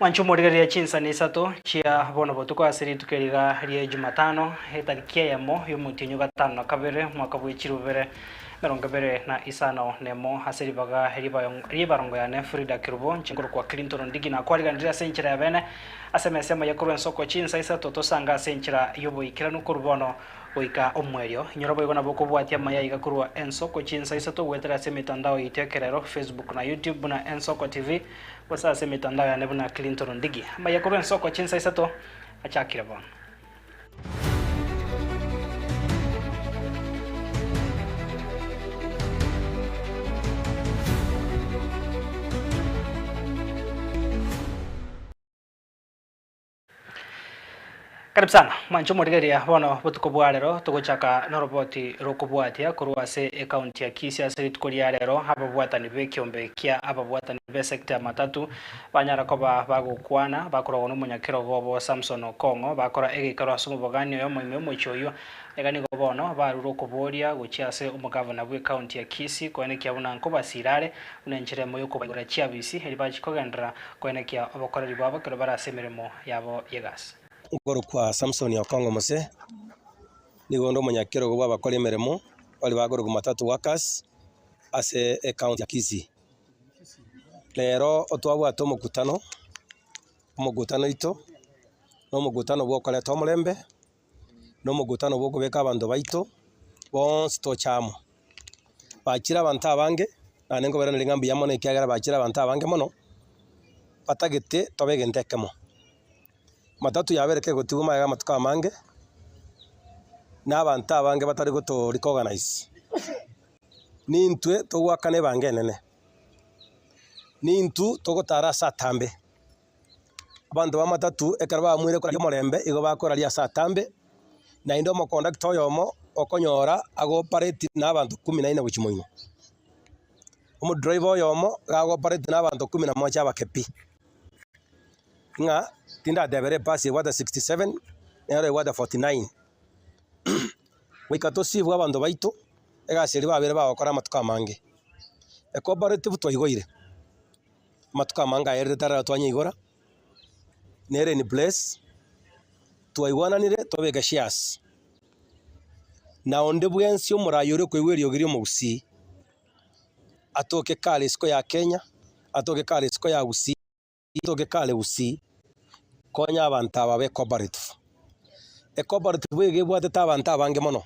Mwanche omorigereria chinsani isato chia bono botuko ase rituko eri iga rie Jumatano, etariki eyemo y'omotienyi o gatano na kabere, omwaka bwe chirubere emerongo ebere na isano na emo, ase ribaga ri'ebayo- ri'ebarongo yane Frida Kirubo, inche nkorokwa Clinton Ndigi, nakwariganirie ase enchera ya bene ase emesa emo y'ekorwa ensoko chinsa isato tosange ase enchera y'oboikeranu korwa bono Goika omoerio, inyora boigo nabo okobwatia amaya aiga korwa Ensoko chinsa isato goetera ase emetandao yaito ekerero, Facebook na YouTube buna Ensoko TV, gose ase emetandao yane buna Clinton Ndigi. Amaya korwa Ensoko chinsa isato achakire bono. Karibu sana mwanche omorigereria, bono botuko bwa rero togochaka noroboti rokobwatia korwa ase ecounty ya Kisii. Ase rituko ria rero ababwatani bekiombe kia ababwatani besecta ya matatu banyara koba bagokwana bakorogwa nomonyakerogo obo Samson Okong'o bakora egeikaro ase omobogani oyo omoime omochie oyio. Iga nigo bono barure okoboria gochia ase omogavana bw'ecounty ya Kisii koenekia buna nkobasira are buna enchera emo yokobaigora chiabisi eri bachikogenderera Koenekia obokoreri bwabo ekero bare ase emeremo yabo y'egasi. Nkorokwa Samsoni Okong'o Mose, nigo onde omonyakerogo bw'abakori emeremo baria bakorokwa Matatu Workers ase ecounty ya Kisii. Rero twabwate omokutano, omokutano oito, na omokutano bw'okoreta omorembe nomogutano bw'okobeka abanto baito bonsi toche amo. Bachire abanto abange, naende nkoberana ring'a mbuya mono ekiagera bachire abanto abange mono, batagete tobe egento ekemo. Jumatatu ya kabere kegotigwa magega amatuko amange, na abanto abange batari goto recognize, nintwe togoakana ebango enene, nintwe togotara ase atambe. Abanto bamatatu ekero bamoire koraria omorembe igo bakoraria ase atambe, naende omokondakta oyomo okonyora agopareti na abanto kumi na ine gochia moino. Omodriver oyomo iga agopareti na abanto kumi na moja abake pi. Ng'a tindatebera ebasi ebwate sixty seven nero ebwate forty nine. Goika tosibwe abanto baito egasi eria babere bagokora amatuko amange. Ecooperative twaigoire. Amatuko amange aya erire tarara twanyeigora, nere in place, twaigwananire twabeka shares, na onde bwensi omorayi oria okoigwa eriogi ria omogusii, atoke kare isiko ya Kenya, atoke kare isiko ya Gusii, atoke kare Gusii, konya abanto aba babe cooperative. Ecooperative iga ebwatete abanto abange mono,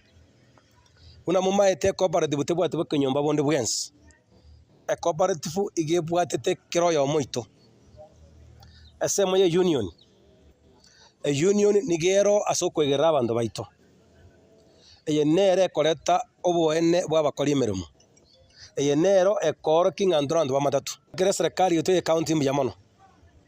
buna momaete ecooperative tebwati bokenyomba bonde bwensi, ecooperative iga ebwatete kera oyomo oito. Ensemo ya eunion, eunion niga ero ase okwegerera abanto baito, eye nere ekoreta oboene bwa abakori emeremo, eye nero ekoorokia ng'a intwe abanto bamatato, ekere eserekari yaito ya ekaunti mbuya mono.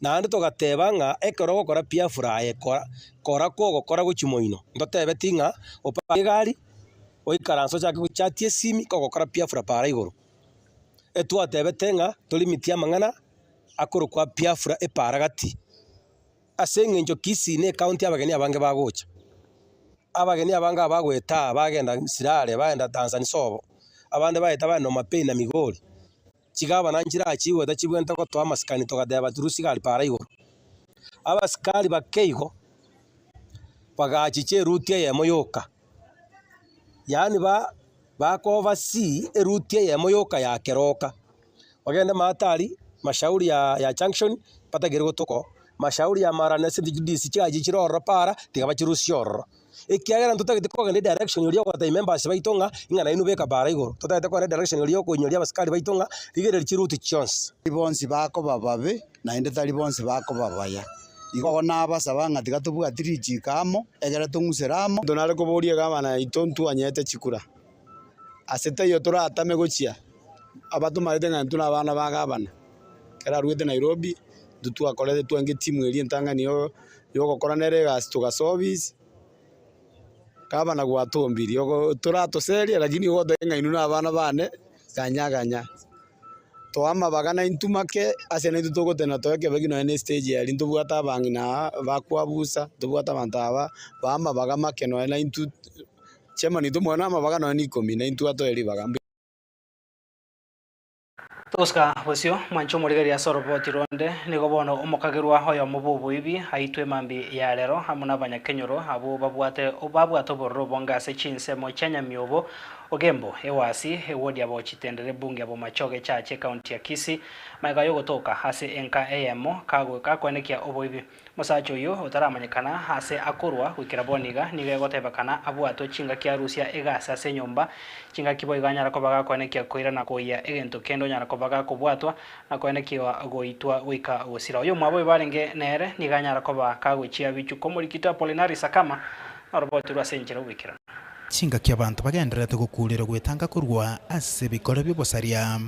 Naende togateba ng'a ekero ogokora piafura aye kora, kora kw'ogokora gochia moino. Ntotebeti ng'a opake egari, oikaranse ochake gochatia esimi kogokora piafura para igoro. Etwatebete ng'a torimitie amang'ana akorokwa piafura epara gati. Ase eng'encho Kisii ne ekaunti abageni abange bagocha. Abageni abange aba bagoeta aa bagenda Sirare, bagenda Tanzansobo, abande baeta bagenda Homabay na Migori. Chigabana nchirachigwe tachibwente gotoa amasikani togateba Tirusi gari paara igoro. Abasikari bake igo bagachicha eruti eyemo yoka yaani ba bakoversee eruti eyemo yoka ya keroka bagende maatari mashauri ya ya junction batagere gotoko mashauri ya mara na ase ejidisi chiaye chichire ororo paara tiga bachirusie ororo. Ekiagera ntotagete kogenda edirection eria ogotebia members baito ng'a ing'ana yaino beka baara igoro. Totagete kogenda edirection eria okoinyoria abasikari baito ng'a rigereria chiruti chionsi. Tari bonsi bakoba babe, naende tari bonsi bakoba baya. Igo nabasaba ng'a tiga tobwati richiiko amo, egere tong'usere amo. Monto nare koboria egabana yaito ntwanyete chikura, ase taiyo toratame gochia abatomarete ng'a intwe nabana ba gabana, ekero arwete Nairobi, intwe twakorete twaenge etimu eria entang'ani ya. yogokora nere egasi togasobis, gavana gwatombiri ogo toratoserie lakini igo oteba ng'a inwe na abana bane ganya ganya. Too amabaga na intwe make ase naintwe togotenena too ekebe ki nonye ne estage eria ntobwate abang'ina aa bakwabusa, ntobwate abanto aba baa amabaga make nonye na intwe chairman oito omonge na amabaga nonye na ikomi naintwe atoe ribaga mbuya. Tosika bosio, mwanche omorigereria ase oroboti ronde, nigo bono omokagerwa oyomo bw'oboibi aitwe mambia ya rero amo n'abanyakenyoro abwo babwate babwate obororo bonge ase chinsemo chia Nyamiobo, Ogembo, Ewasi, Ewodiabo, Chitendere, Bunge, Abomachoge, Echache, Ekaunti ya Kisii. Magega y'ogotoka ase enka eyemo kagoe kakoenekia oboibi. Omosacha oyio otaramanyekana aase akorwa goikera bono iga, nigo egotebekana abwatwe chingaki arusia egasi ase enyomba. Chingaki boigo anyara koba gakoenekia koira na koyia egento kende onyara koba gakobwatwa na koenekiwa goitwa goika gosira. Oyo omwabo oyo barenge nere nigo anyara koba kagochia bichu komorikito Apolinari Sakama na oroboti rwe ase enchera y'ogoikerana. Chingaki abanto bagendererete gokuurera gwetanga korwa ase ebikore bi'obosaria.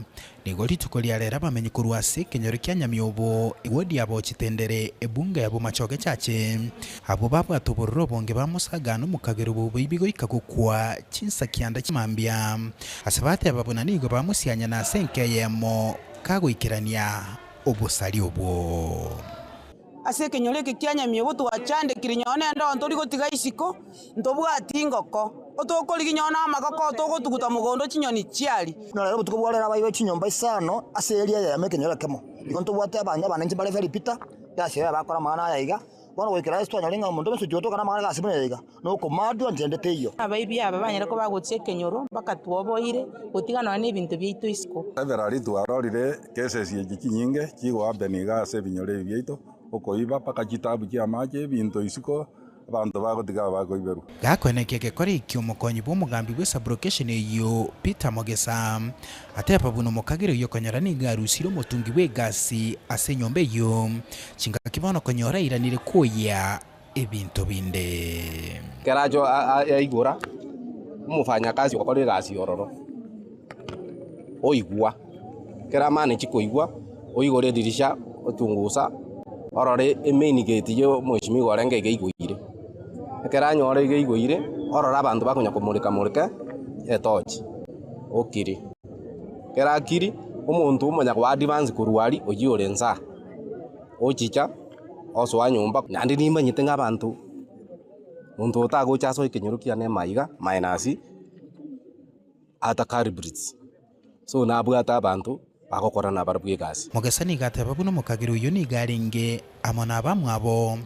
Nigo rituko ria rero abamenyi korwa ase ekenyoro kia Nyamiobo Wodi aba Ochitendere, Ebunga ya Bomachoge echache. Abwo babwate obororo obonge bamosaga nomokagera obouboibi goika gokwa chinsa kianda chia mambia, ase bateba buna nigo bamosianya na ase enka eyemo kagoikerania obosari obwo. Ase ekenyoro eke kia nyamiobo twachandekiri nyoo nende onto rigotiga isiko, ntobwati ingoko otokorigi nyoo namagoko otogotuguta mogondo chinyoni chiari. Naro ere obotuko bw'ore nabairwe chinyomba isano ase eria eyemo ekenyoro ekemo. Igo ntobwate abange abanenche mbare Felipita, Gasi, Yoya bakore amang'ana aya iga. Bono goikera ase twanyore ng'a omonto bwensi otiga toka namang'ana Gasi buna eyo iga. nokomaadwa ntende teiyo. Abaibi aba banyare koba bagochia ekenyoro, bakatugwa oboire, gotiga nonya nebinto biaito isiko. Ekero ritu arorire kesesi echi chinyinge chiigwa abe nigo ase ebinyoro ebi biaito okoiba, mpaka chitaabu chi'amaache, ebinto isiko, abanto bagotiga abakoiberwa. Gakweneki egekore ekio omokonyi bw'omogambi bwe sublocation eyio Peter Mogesa ateba buna omokagera oyio okonyora nigo arusire omotungi bw'egasi ase enyomba eyio chingaki bono okonyora airanire koyia. ebinto binde. Keracho yaigora omofanyakasi okora egasi ororo, oigwa. Kera amane chikoigwa, oigore edirisha ochungusa orore emain gate ya omweshimiwa orenge iga igoire. Ekero anyore iga igoire, orore abanto bakonya komoreka moreka etochi, okiri. Ekero akiri, omonto omonya koa advance korwa aria oyio ore nsaa, ochicha. osoa nyomba, naende nimanyete ng'a abanto, monto otagocha asoe ekenyoro kiane amaiga minus atakaari breeds, so nabwate abanto bagokora nabarabwo egasi. Mogesa nigo ateeba buna omokabera oyio nigo arenge amo nabamwabo,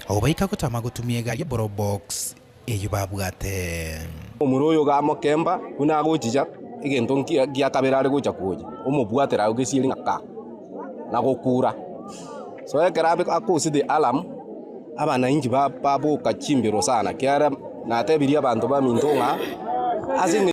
ogobaika gotama gotumia egari y'eborobox eyio babwate. Omura oyo gamokemba buna agochicha egento nki- gia kabere are gocha konya omobwatera agwo gesieri ng'a ka, na gokura. So ekero abe akoset the alarm, abanainchi ba- baboka chimbero sana, kiara natebirie abanto baminto ng'a ase eng'encho.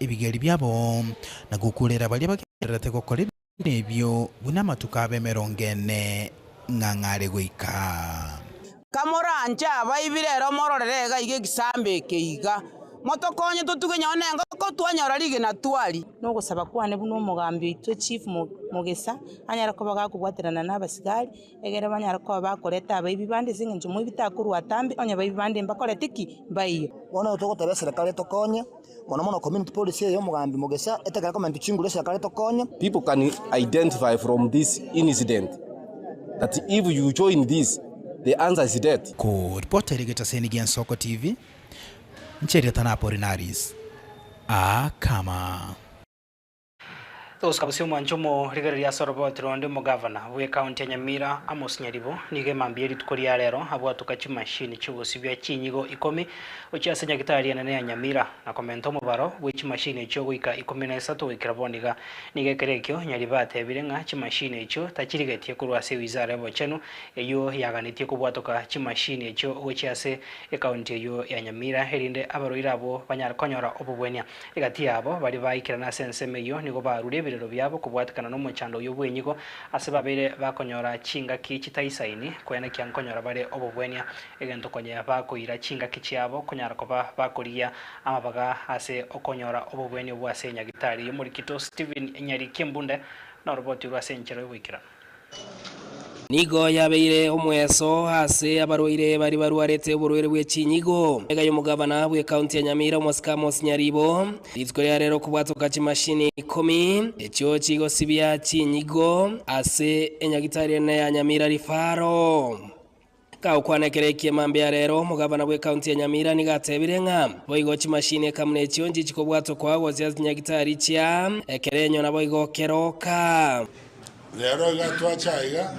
ebigeri biabo, na gokuurera baria bagendererete gokora ebibe ebio buna amatuko abo emerongo ene ng'ang'are goika. Kamoranche abaibire ero mororere gaiga egesaamba eke iga, motokonye totuge nyoo nengoko twanyora rigena twari. Nogosaba kwane buna omogambi oito chief mogesa anyare koba gakobwaterana nabasigari, egere banyare koba bakoreta abaibi bande, ase eng'encho moibi takorwa atambe, onye abaibi bande mbakorete ki? mbaiyo. Bono nabo togoteba eserekari etokonye, mono mono community policy eye y'omogambi Mugisha etekera komentu chinguru eserekari etokonye. People can identify from this incident that if you join this the answer is death. Ku ripota eri egetaseni gia Nsoko TV, nche erieta na Apollinaris Akama. Oscar Bosiomwancha omorigereria ase oroboti ronde omogavana bw'Ekaunti ya Nyamira Amos Nyaribo nigo emambia erituko ria rero abwatoka chimashini chi'ogosibia chinyigo ikomi gochia ase Nyagitari enene ya Nyamira na komenta omobaro bwe chimashini echio goika ikomi na isato goikera bono iga. Nigo ekero ekio Nyaribo atebire ng'a chimashini echio tachirigetie korwa ase Wizara Ebochenu eyio yaganetie kobwatoka chimashini echio gochia ase Ekaunti eyio ya Nyamira erinde abarwaire abwo banyare konyora obobwania. Egati y'abo baria baikerana ase ensemo eyio nigo barure ebirero biabo kobwatekana nomochando oyio bw'enyigo, ase babeire bakonyora chingaki chitaisaini, koenekia nkonyora bare obobwenia, egento konye bakoira chingaki chiabo konyara koba bakorigia amabaga ase okonyora obobwenia obwo ase Nyagitari y'omorikito Stephen Nyariki Mbunde, noroboti rw'ase enchera y'oboikeranu. Nigo yabeire omweso ase abarwaire baria barwarete oborwaire bwe chinyigo. Egeka y'omogavana bw'ekaunti ya Nyamira omosike Amos Nyaribo, rituko ria rero kobwatoka chimashini ikomi echio chigosibia chinyigo ase enyagitari enene ya Nyamira Rifaro. Gakokwana ekero eki'Emamba mbeya rero, omogavana bw'ekaunti ya Nyamira nigo atebire ng'a boigo chimashini ekamuna echio nchichikobwatwa koa gose ase chinyagitari chia ekerenyo naboigo keroka. Rero iga twacha aiga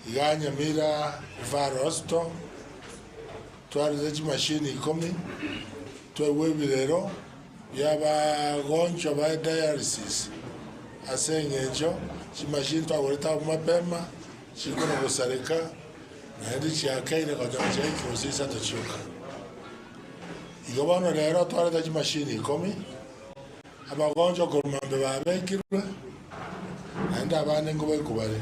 iga Nyamira Referral Hospital, twarete chimashini ikomi, twaigwa ebirero bi'abagonchwa ba dialysis ase eng'encho chimashini twagorete abwo mapema Chikumi gosareka, naende tichiakeire gocha gochia eke gose isato chioka. Igo bono rero twareta chimashini ikomi, abagoncho korwa mbe babekirwe, naende abande nkobaikwa bare.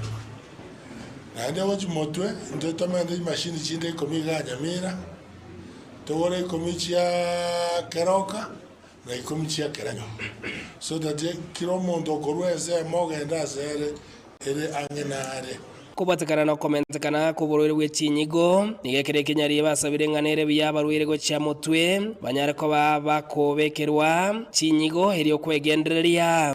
Naende gochia motwe intwe tomerete chimashini chinde ikomi iga Nyamira, togore ikomi chia keroka, na ikomi chi'ekerenyo, so that kera omonto okorua ensemo ogende asere ere ang'e nare. Kobatekana na okomentekana kw'oborwaire bwe chinyigo, nigo ekero ekenyariye basabire ng'a nere buya abarwaire gochia motwe, banyare koba bakobekerwa chinyigo erio okwegendereria.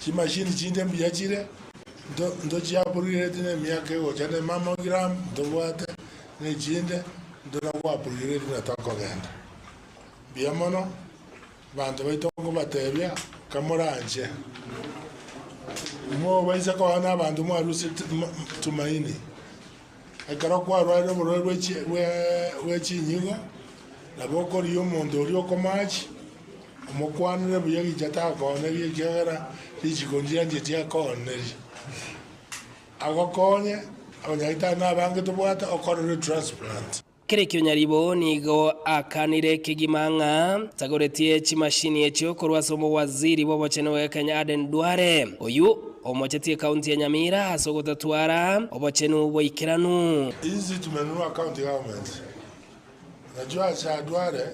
Chimashini chinde mbuya chire, ntochiaprogireti nemiaka egocha ne mammogram ntobwate, ne chinde nto nagwaprogireti na tokogenda. Mbuya mono, abanto baito nkobatebia, kamoranche, mobaise koa nabanto mwaruseti tumaini. Ekero kwarwarire oborwaire bwe chi bwe bwe chinyigo, nabo okorigia omonto oria okomachi, omokwanere buya gicha takooneri, ekiagera richiko ndianche tiakooneri. Agokonye, abanyagitari nabange tobwate, okorere transplant. Kera ekio nyaribo nigo akanire kegima ng'a tagoretie chimashini echio korwa ase omowaziri bw'obochenu bwa Kenya Aden Duale, oyio omocheti ekaunti ya Nyamira ase ogotatwara obochenu boikeranu. Ichi chitumenwa county government nachio acha Duale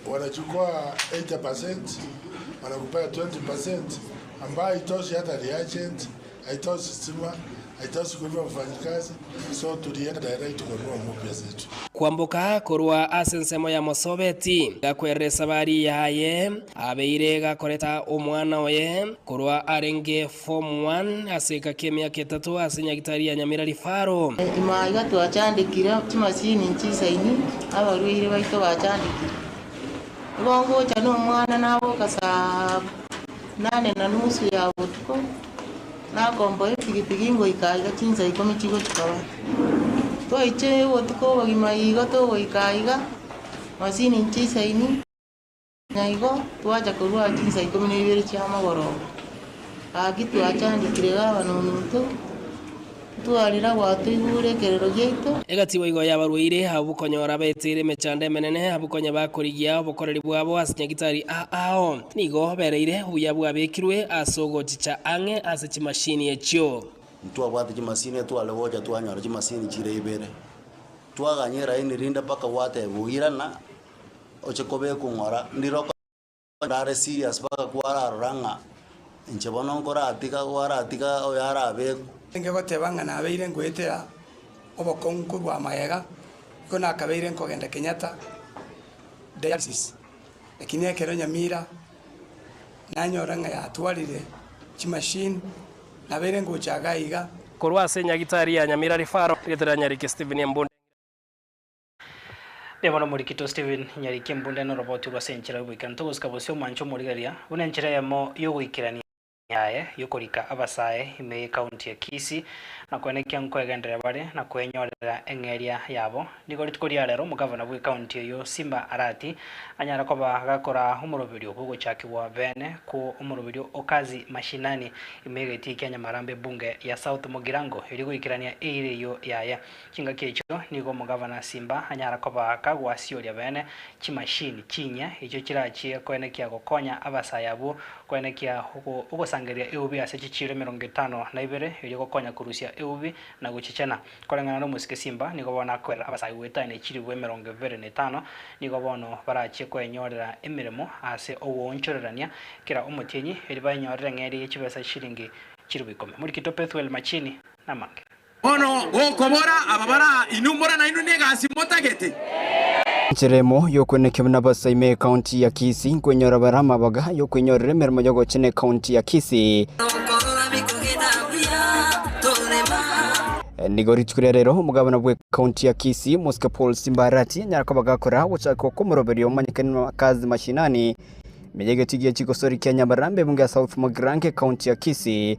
okona chikoa 80% mana kupewa 20% ambayo itosia ata reagent Aite osisima, aite osiko rw'abafanyikazi, so oturie endaera rituko rw'omobe asetu. Kwamboka korwa ase ensemo ya Mosobeti, gakwerire Samaria aye abeire gakoreta omwana oye korwa arenge form one ase egeka y'emiaka etato ase nyagitari ya Nyamirari Faro. Ime aiga twachandekire chimasini nchisaini abarwaire baito bachandekire. Nigo ngocha nomwana naboka saa. Nane na nusu ya botuko nakomboa epigipigi ngoika aiga chinsa ikomi chigochikora. Toiche botuko obogima igo togoika aiga masini nchisaini na igo twacha korwa chinsa ikomi na ibere chiamagoroba. Gaki twachandekire gavana omonto. Twarira gwatoigure ekerero giaito. Egati boigo y'abarwaire, abwo konyora beteire emechando emenene, abwo konya bakorigia obokoreri bwabo ase nyagitari a ao, nigo bereire obuya bwabekirwe ase ogochicha ang'e ase chimashini echio. Ntwabwate chimashini etware gocha twanyora chimashini chire ibere. Twaganya eraini rinde mpaka gwateba oirana oche kobekwa ng'ora ndire okore. Are serious mpaka kwararora ng'a inche bono nkoratiga kwaratiga oyo arabekwe. Enge goteba ng'a nabeire nkoetera obokong'u korwa magega, igo nakabeire nkogenda Kenyatta dialysis, lakini ekero Nyamira nanyora ng'a yatwarire chimachine, nabeire ngocha iga iga, Korwa ase Nyagitari ya Nyamira Referral, rietera Nyariki Stephen Mbunde Ng'irembwe. Mbuya mono Omorikito Stephen, Nyariki embunda ino orobotwe rw'ase enchera y'ogoikera ntogo gosika bosio mwanche omorigereria, buna enchera eyemo y'ogoikerania yaye yokorika abasae ime y'ekaunti ya Kisii, na koena ekia nkoegenderera bare na koenyorera eng'eria yabo. Nigo rituko ria rero omogavana bw'ekaunti eyio Simba Arati anyare koba gakora omoroberio bw'ogochakigwa beene kwo omoroberio o Kazi Mashinani ime y'egetii kia Nyamarambe Bunge ya South Mugirango erio goikerania eira eyio yaye Chingaki echio nigo omogavana simba anyara koba kagwasiooria beene, chimashini chinyia echio chirachie koenekia gokonya abasae abwo koenekia ogosangereria eubi ase chichiiro emerongo etano na ibere erio gokonya korusia eubi na gochichena. Koreng'ana nomosike simba nigo bono akoirera abasae goetania echiribu emerongo ebere na etano, nigo bono barachie koenyorera emeremo ase ogwoonchorerania kera omotienyi, erio baenyorere ng'eria ye chibesa chiringi chiribu ikomi. Morikito Pethuel Machini namange. Bono gokobora aba bare aa inwe mbora nainwe negasi motagete. Enchera emo y'okwenekio buna abasaima ecounty ya Kisii nkwenyora bare amabaga ay'okwenyorera emeremo y'ogochena ecounty ya Kisii. Nokorora bikogenda buya torema. Nigo rituko ria rero omogabana bwe county ya Kisii Mosque Paul Simbarati anyara koba gakora gochakwa kw'omoroberio omonyekani na Kazi Mashinani ime y'egetio gie chigosori kia Nyamarambe ebungo ya South Magirango ecounty ya Kisii.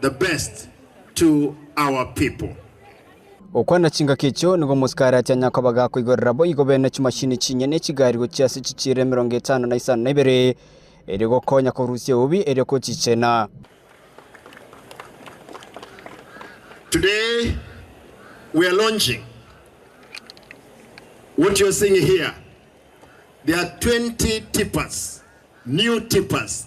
the best to our people. Gokwana chingaki echio nigo omosikaarati anyare koba gakoigorera boigo bene chimashini chinye ne chigari gochia ase chichiira emerongo etano na isano na ibere erio gokonya korusia eubi erio gochichena. Today we are launching what you're seeing here. There are 20 tippers, new tippers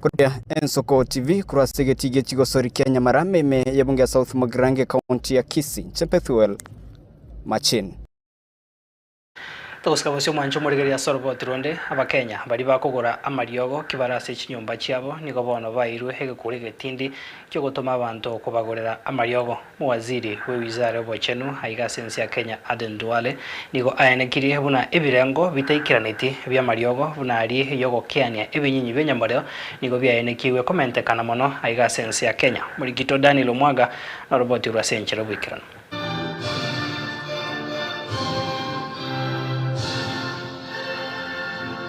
Koria Ensoko TV korwa ase egetii gie chigosori kia Nyamara, Meme ya Ebunge ya South Magirange, County ya Kisii, inche Pethuel Machin. Togosika bosio mwanche omoregereria ase oroboti rwonde, Abakenya baria bakogora amariogo ki bare ase chinyomba chiabo nigo bono baeirwe egekuri egetindi ki'ogotoma abanto kobagorera amariogo. Waziri bwe Wizara y'Obochenu aiga ase ense ya Kenya Aden Duale nigo aenekirie buna ebirengo bitaikaraneti bi'amariogo buna aria y'ogokeania ebinyinyi bi'enyomoreo nigo biaenekigwe komentekana mono aiga ase ense ya Kenya. Morikito Daniel Omwaga noroboti rw'ase enchera oboikeranu.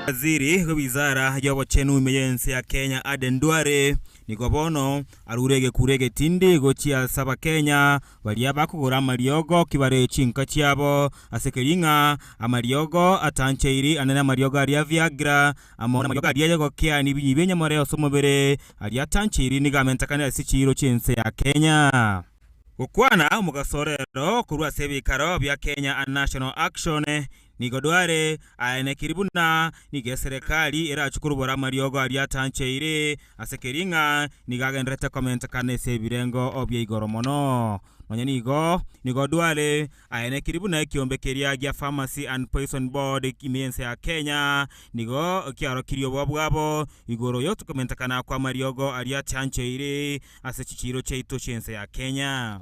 Waziri bwe Wizara y'Obochenu ime y'ense ya Kenya Aden Duale nigo bono Arure egekuro egetindi gochia ase Abakenya baria bakogora amariogo kibaree chinka chiabo ase Kiring'a, amariogo atanchairi ane namariogo aria a Viagra amo namariogo aria ayegokea nebinyi bi'enyamore ase omobere aria atanchairi nigo amentekane ase chiiro chi'ense ya Kenya. Gokwana omogaso orero korwa ase ebikaro bia Kenya and National Action Nigo dware aenekiri buna nigo eserekari erachie korubora amariogo aria atancheire ase keria ng'a nigo agendererete komentekana ase ebirengo bia igoro mono. Nonya nigo, nigo dware aenekiri buna ekiombe keria gia Pharmacy and Poison Board ime y'ense ya Kenya nigo kiarokirie oboa bwabo igoro y'otokomentekana kw'amariogo aria atancheire ase chichiiro chiaito chi'ense ya Kenya.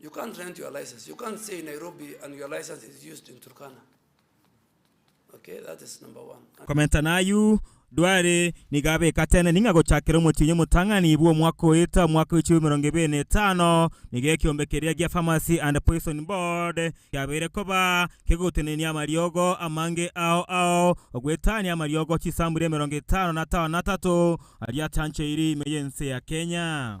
You can't rent your license. You can't stay in Nairobi and your license is used in Turkana. Okay, that is number one. And Komenta nayio, Duale nigo abekateneni ng'a gochakera omotienyi omotang'ani bw'omwaka oeta omwaka wa echiromo emerongo ebere na etano, nigo ekiombe keria gia Pharmacy and Poison Board kiabeire koba kegotenenia amariogo amange ao ao ogwetania amariogo chisamburia emerongo etano na atano na atato aria achancheiri ime y'ense ya Kenya.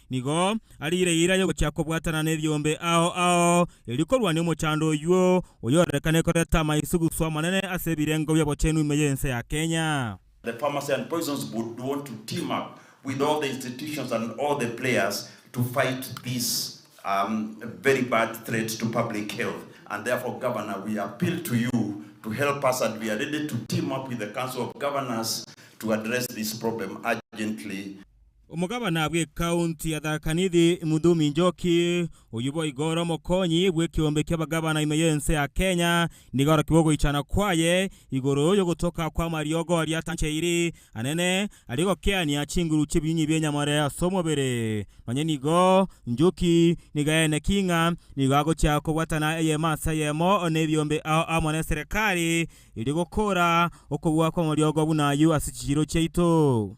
Nigo ariire eira y'ogochia kobwatana nebiombe ao ao, erio korwania omochando oyio oyorekane koreta amaisugusu amanene ase ebirengo bi'obochenu ime y'ense ya Kenya. The pharmacy and poisons board want to team up with all the institutions and all the players to fight this um, very bad threat to public health and therefore Governor we appeal to you to help us and we are ready to team up with the council of governors to address this problem urgently. Omogabana bw'Ekaunti ya Tharaka Nithi, Mudhumi Njoki, oyio boigo ore omokonyi bw'ekeombe ki'abagabana ime y'ense ya Kenya, nigo arokigwe ogoichana kwaye igoro y'ogotoka kw'amariogo aria atancheiri anene aria gokeania chinguru chi'ebinyinyi bi'enyamore ase omobere. Nonye nigo, Njoki nigo aeneki ng'a nigo agochia kobwatana eyemo ase eyemo nebiombe ao amo neserekari erio gokora okobua kw'amariogo buna ayio ase chichiiro chiaito.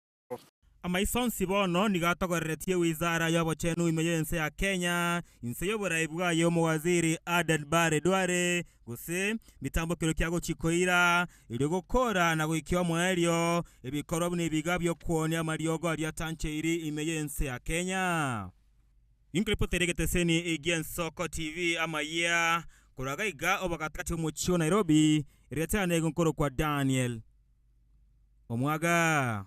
Amaiso onsi bono nigo atogoreretie Wizara y'Obochenu ime y'ense ya Kenya, inse y'oborai bwaye Omowaziri Aden Bare Duale, gose mitambokero kia gochia koira, erio gokora na goikia omoerio ebikorwa buna ebiga bi'okuonia amariogo aria atancheiri ime y'ense ya Kenya. Inkoripoti ere egeteseni egia Ensoko TV amayia korwa gaiga obagatigati bw'omochie o Nairobi, eria tena nigo nkorokwa Daniel. omwaga.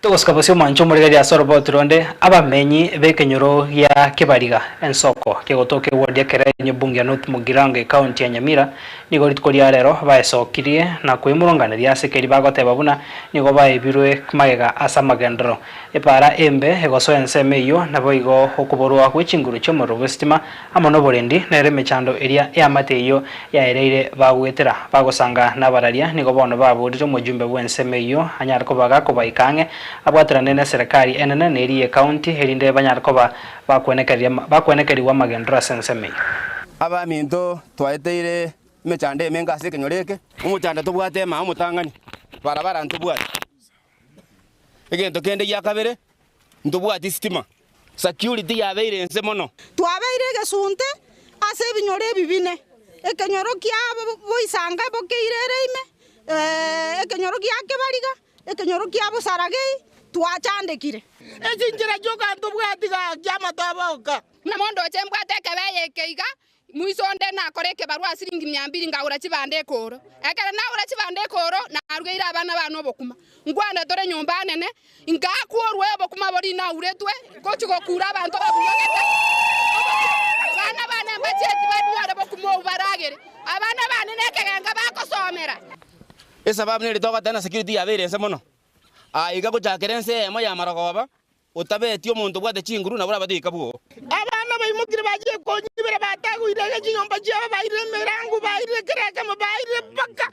Togosika bosio mwanche omorigereria ase orobootu ronde abamenyi b'ekenyoro gia Kibariga ensoko kegotoka eward ya Kerenyo Bunge ya North Mugirango ekaunti ya Nyamira nigo rituko ria rero baesokirie na koimoronganeria ase keri bagoteba buna nigo baebirwe magega ase amagenderero epaara embe egosoa ensemo eyio naboigo okoborwa gwe chinguru chiomorero bw'esitima Amo noborendi, nere emechando eria eamate eyio yaereire bagwetera, bagosanga nabararia, nigo bono baborire omojumbe bw'ensemo eyio anyare kobaga kobaika ang'e, abwaterane neserekari enene na eria y'ekaunti, erinde banyare koba bakwenekerigwa amagenderero ase ensemo eyio. Abaminto, twaeteire emechando emenga ase ekenyoro eke. Omochando tobwate ema omotang'ani, barabara ntobwati. Egento kende gia kabere, Ntobwati sitima. Security yabeire ense mono. Twabeire egesunte ase ebinyoro ebi bine, ekenyoro kia boisanga bokeire ere ime, ekenyoro gia kebariga, ekenyoro kia bosaragei, twachandekire. Echinchera chi'oka ntobwati gaki amatoba oka. Namondoche mbwate ekebeye eke iga, Moiso onde nakora ekebarwa ase siringi mia mbiri ngagora chibando ekooro. Ekero nagora chibando ekooro narugeire abana baane obokuma. Nkwane tore nyomba anene, ingakuorwe obokuma boria inauretwe gochia gokuura abanto babunyogete obokima. Abana baane mbachie tibanyore bokuma obwo baragere. Abana baane nekegenga bagosomera. Esababu neritoka tena security yabeire ense mono. Aiga gochakera ense eyemo y'amarogoba Otabeeti omonto obwate chinguru, nabo orabatebi kabwo. Abana baimokire bachia konyibera, batagoire iga chinyomba chiabo, bairire emerango, bairire kera ekemo, bairire mpaka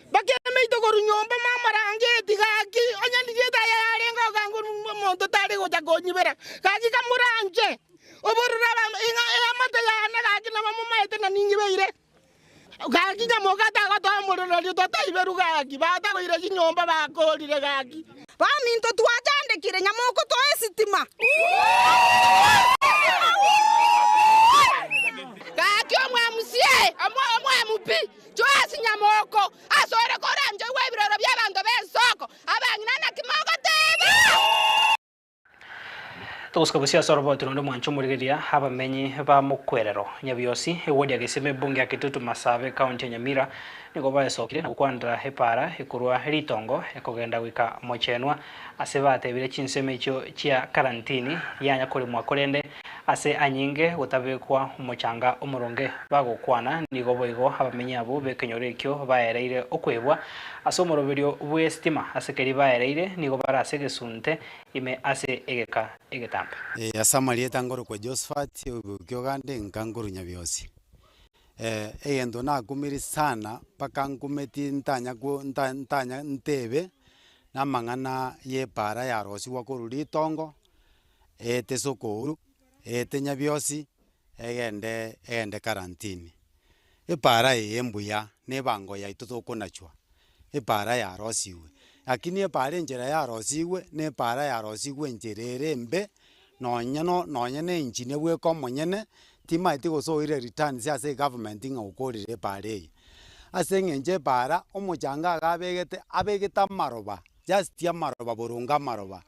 mpaka emeito korwa nyomba mamorangeti, gaki onye ndigiete aya yarenge ogango rung'u omonto tari gocha konyibera, gaki kamoranche obororo abam ing'a eamate yane, gaki naba momaete na ningibeire. Gaki nyamoka tagotoa omorero erio totaiberu gaki, batagoire chinyomba bakoorire gaki. Baminto twachandekire nyamoka otoe esitima. Gaki omwamusie omwamubi Joasi nyamoko asore koranchoigwa ebiroro bi'abanto b'ensoko abang'ina naki mogoteeba? Ogosika bosio ase orobooto nonde omwanche omorigereria abamenyi ba Mokwerero, Nyabiosi, ewodi ya Geseme, ebunge ya Kitutu Masabe, ekaunti ya Nyamira, nigo baesokire na gokwanera epaara ekorwa ritongo ekogenda goika mochenwa ase batebire chinsemo echio chia karantini yanya koremwa korende Ase anyinge gotabekwa omochanga omoronge, bagokwana, nigo boigo abamenyi abwo b'ekenyoro ekio baereire okwebwa ase omoroberio bw'esitima, ase keria baereire nigo bare ase egesunte ime ase egeka egetambe. Ee, ase amarieta ngorokwa Jehoshafati, oigwekwa ki'oganda, enka nkorunya bionsi. Ee, egento nakumire sana, mpaka nkumeti ntanya ko nta ntanya ntebe namang'ana y'epaara yarosigwa korwa ritongo. Eete sokouru, eete nyabiosi, egende, egende karantini. Epaara eye embuya, na ebango yaito tokonachwa, epaara yarosigwe. Rakini epaara enchera yarosigwe, na epaara yarosigwe enchera ere embe, nonya no nonya na engineer bweka omonyene, timaeti gose oire returns ase egovernment ng'a okorire epaara eye. Ase eng'encho epaara, omochanga iga abegete, abegete amaroba Just amaroba boronge amaroba,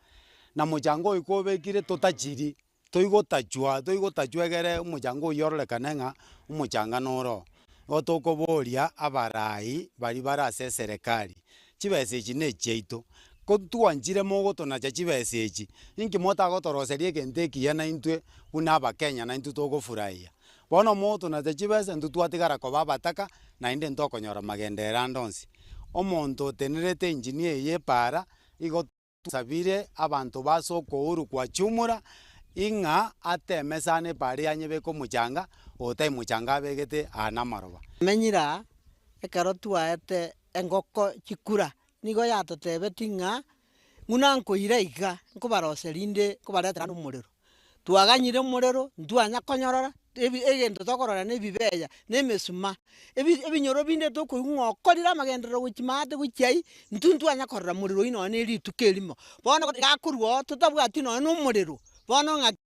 na mochango oyo kobekire totachiri, toigotachwa toigotachwa egere omochango oywo ororekane ng'a omochanga noro oo. Igo tokoboria abarai baria bare ase eserekari, chibesa echi ne echiaito, ko ntwanchire mogotonacha chibesa echi, inki motagotoroseria egento ekiya naintwe buna abakenya naintwe togofurahia? Bono motonacha chibesa intwe twatigara koba abataka, naende ntokonyora magenderero ande onsi. Omonto otenerete enginia eye y'epaara igo tosabire abanto b'ase okouru kwa Chumura i ng'a ateme sana epaara eye anyebeke omochanga, oyo tai mochanga abegete aa namaroba. Tomenyire aa, ekero twaete engoko chikura, nigo yatotebetie ng'a Ng'una nkoira iga nkobarosia rinde nkobaretera nomorero. Twaganyire omorero ntwanya konyorora ebi egento tokorora na ebibeya na emesuma, ebi ebinyoro binde tokoigwa ng'a okorire amagenderero gochia maate gochia aywo, intwe ntwanya korora morero oywo nonye ne rituko erimo. Bono iga akorwa oo totabwati nonye na omorero, bono ng'aki.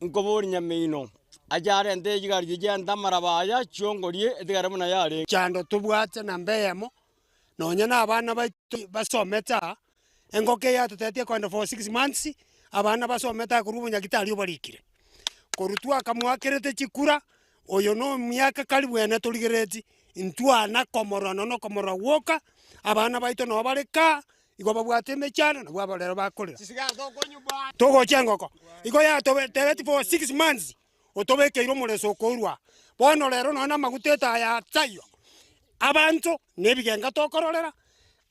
Nkoboria Nyamino, aye arente echigari chi'echi ante amaraba aya chiongorie etigare buna yarenge. Chando tobwate namba eyemo, nonya nabana baito basomete aa, engoko eye yatotetie kogenda for six months, abana basomete aa korwa obonyaki tari obarikire. Korwa twakamoakerete chikura, oyo no miaka karibu ene torigereti, intwana komorora nonya nokomorora gwoka, abana baito nabo bare kaa, Igo babwate emechando, nabwo abo rero bakorera. Togocha engoko igo yatobeteretie for six months, otobekeire omoreso okourwa aa. Bono rero nonya namaguta etaya taiyo, abanto nebigenga tokororera,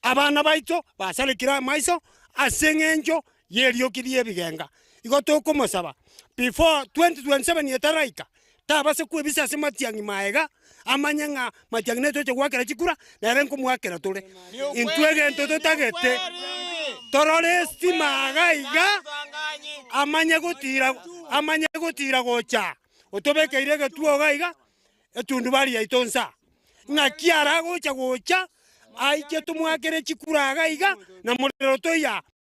abana baito basarekire amaiso aseng'encho. y'erioki ri'ebigenga. Igo tokomosaba, before 2027 etaraika, tabase kwebisa ase matiang'i maega, amanye ng'a matiang'i naye toche goakera chikura, nere nkomoakera tore. Intwe egento totagete, torore estima iga iga, amanye gotira, amanye gotira gocha, otobekeire egetuo iga iga, etundubari yaito nsa, ng'aki aragocha gocha, aiche tomoakere chikura iga iga, na morero toiya.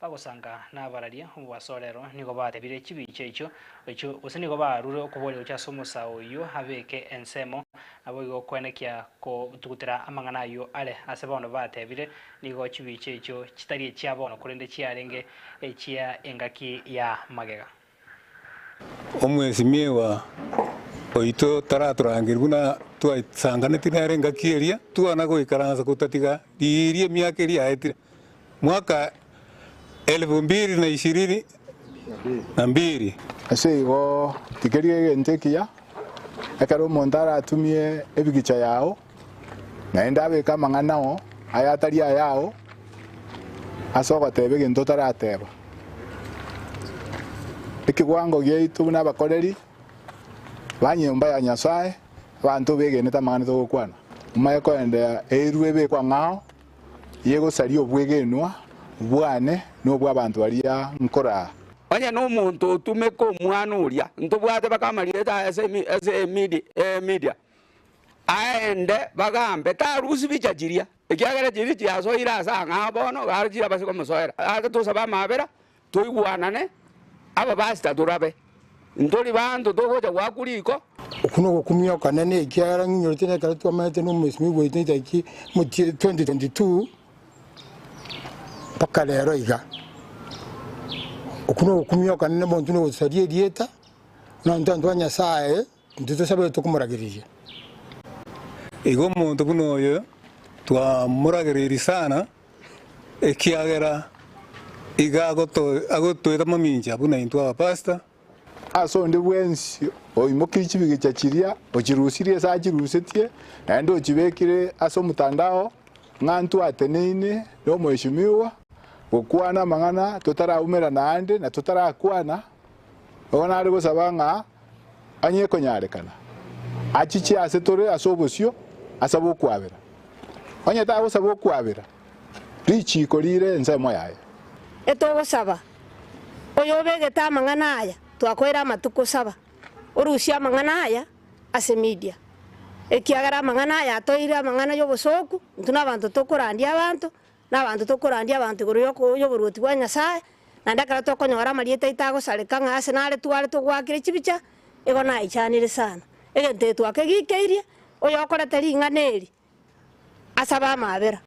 Bagosanga nabararie omobasorero nigo batebire chibincha echio, echio, gose nigo barure okoboria gochia ase omosa oyio abeke ensemo, naboigo okwenekia kotugutera amang'ana ayio are ase bono batebire, nigo chibincha echio chitari echia bono korende chiarenge echia engaki ya magega. Omwesimigwa oito taratorangerie buna twasanganeti nere engaki eria, twana goikaransa gotatiga riiri emiaka eria yaetire. Mwaka elfu mbiri na ishirini na mbiri. Ase igo, rigeria egento ekiya, ekero omonto aratumie ebigicha yao, Naende abeke amang'ana ao, aye atari ayao, ase ogoteeba egento otarateeba. Ekewango giaito buna abakoreri ba nyomba ya Nyasae, abanto begenete amang'ana togokwana, momaye koenderea eirwe ebekwa ng'ao yegosaria obwegenwa bwane na obw'abanto baria nkoraa. Onye nomonto otumeka omwana oria, ntobwate baka amarieta aye ase Media, aende, bagambe tarusie bicha chiria, ekiagera chiria chiasoire ase ang'aa bono, iga chire abase komosoera. Ase tosabe amabera, toigwanane, abapasita torabe, ntori banto togocha goakwa riko. Oko nogokumia okonene, ekiagera ng'inyorete na ekero twamenete na omosibwa goetania tariki 2022 mpaka rero iga. Oko nogokumia okonene, monto nogosaria erieta, nonto abanto ba Nyasaye. Intwe tosabetetwe komorageriria. Igo omonto buna oyo twamoragereiri sana, ekiagera iga agotoeta mamincha buna intwe abapastor. Ase onde bwensi oimokirie chibigicha chiria, ochirusirie ase achirusetie, naende ochibekire ase omotandao ng'a ntwateneine n'Omweshimiwa gokwana amang'ana totaraumerana aande na totarakwana, igo nare gosaba ng'a Onye ekonyarekana, achiche aase tore ase obosio asabe okwabera. Onye tagosaba okwabera, richiiko riire ensemo yaye. Etogosaba, oyo obegete amang'ana aya twakoire amatuko saba, orusie amang'ana aya ase media, ekiagera amang'ana aya atoire amang'ana y'obosooku, intwe nabanto tokorandia abanto, Nabanto tokorandia abanto igoro y'oboruoti bwa Nyasae, naende ekero tokonyora amarieta aito agosareka ng'a ase nare tware togwakire chibicha, igo naichanire sana. Egento eke twakegikeirie oyokorete ring'ana eri ase abamabera.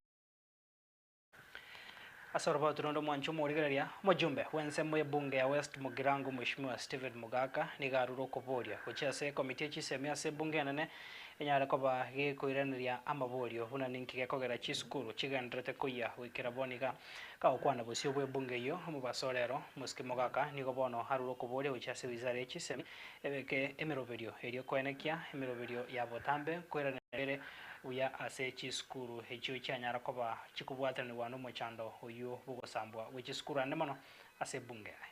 Ase oroboti rwonde omwancha omorigereria, omojumbe bw'ensemo y'ebunge ya West Mugirango Mweshimiwa Stephen Mogaka nigo arure okoboria gochia ase ekomiti ye chisemi ase ebunge enene Enyare koba gekoiraneria amaborio buna ninki gekogera chisukuru chigendererete koyia goikera bono iga. Kagokwana bosio bw'ebunge eyio, omobaso ore aro, Mosiki Mogaka, nigo bono arure okoboria gochia ase wizara ya chisemi, ebeke emeroberio eria koenekia emeroberio ya botambe koiraneria bere buya ase chisukuru echio chianyara koba chikobwatanerewa nomochando oyio bw'ogosambwa gwe chisukuru ande mono ase ebunge aye.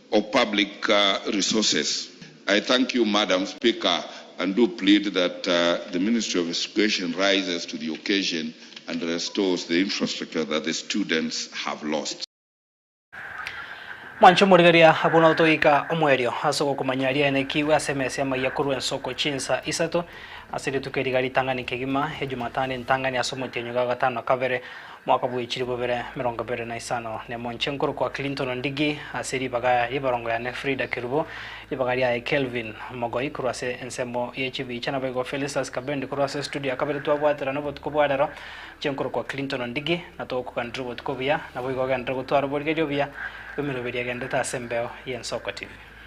of public resources. I thank you Madam Speaker and do plead that the Ministry of Escuation rises to the occasion and restores the infrastructure that the students have lost. Mwanche omorigeria, abwo notoika omoerio ase ogokomanya riaene kiwe ase emesa y'amaiya korwa ensoko chinsa isato ase rituko eri iga ritang'ani kegima, Ejumatano entang'ani ase omotienyi ogagatano kabere. Mwaka bwe chilifu ibere emerongo ebere na isano ne monche nkorokwa Clinton Ondigi ase ribaga y'ebarongo yane Frida Kerubo, ribaga riaye Kelvin Mogoi korwa ase ensemo ye chibicha naboigo Felistas Kabendi korwa ase studio ya kabere twabwaterana obotuko bwa rero inche nkorokwa Clinton Ondigi na togokuganera obotuko obuya naboigo ogenderere gotwara oborigereria obuya bw'emeroberio egendete ase embeo y'Ensoko TV.